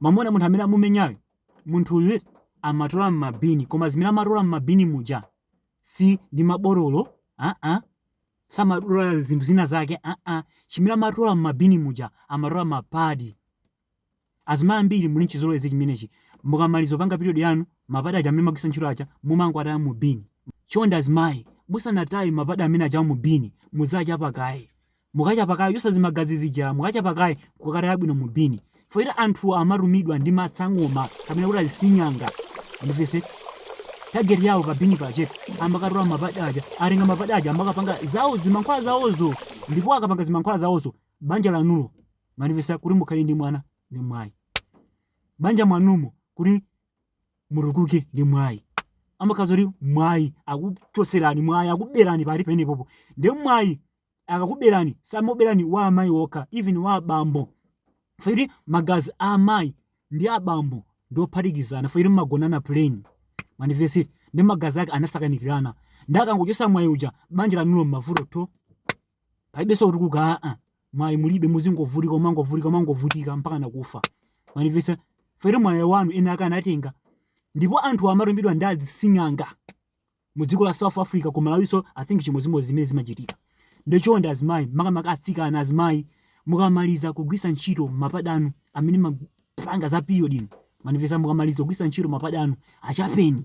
mwamuna munthu amene amumenyayo munthuyu amatola m'mabini koma zimene amatola m'mabini muja si ndi mabotolo aa samatola zinthu zina zake aa chimene amatola m'mabini muja amatola mapadi azimayi ambiri muli nchizolowezi chimenechi mukamaliza kupanga period yanu mapadi aja amene mwagwisa ntchito aja mumangwataya mu bini chonde azimayi musanataye mapadi amene aja mu bini muzichapa kaye mukachapa kaye kuchosa zimagazi zija mukachapa kaye kukataya bwino mu bin poti anthu amatumidwa ndi masangoma kapena kuti azisinyanga mwandimvetsa target yawo pa bin pache amakatola mapadi aja atenga mapadi aja amakapanga zawo zimankhwala zawozo ndipo akapanga zimankhwala zawozo banja lanulo mwandimvetsa kuti mukhale ndi mwana ndi mwayi banja mwanumo kuti mutukuke ndi mwayi amakhala kuti mwayi akuchoserani mwayi akuberani pali penepopo ndi mwayi akakuberani samakuberani wa amayi okha even wa abambo poti magazi a amayi ndi abambo ndi ophatikizana poti mmagonana plain mwandimvetsa nde magazi ake anasakanikirana nde akangochosa mwayi uja banja lanulo mmavuto tho palibenso kutukuka aa mwayi mulibe muzingovutika umangovutika umangovutika mpaka nakufa mwandimvetsa poti mwayi wanu ena ake anatenga ndipo anthu amatumidwa ndi azising'anga mu dziko la south africa ku malawiso i think chimodzimodzi zimene zimachitika nde chonde azimayi makamaka atsikana azimayi mukamaliza kugwisa ntchito mapadi anu amene mmapanga za period ino mwandimvetsa mukamaliza kugwisa ntchito mapadi anu achapeni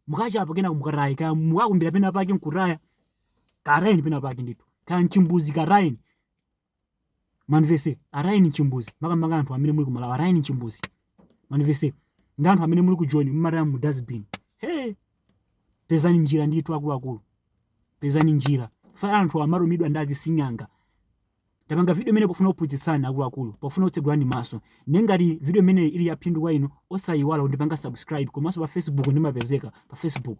mukachapa kenako mukataye kaya mukakumbira pena pake nkutaya katayeni pena pake ndithu kaya nchimbuzi katayeni mwandimvetsa atayeni nchimbuzi makamaka anthu amene muli ku malawi atayeni nchimbuzi mwandimvetsa nde anthu amene muli kujoni mumataya mu dustbin he pezani njira ndithu akuluakulu pezani njira poti anthu amatumidwa ndi azising'anga tapanga video imeneyi pofuna kuphunzitsani akuluakulu pofuna kutsegulani maso nde ngati video imeneyi ili yaphindu kwa inu osayiwala kundipanga subscribe komanso pa facebook ndimapezeka pa facebook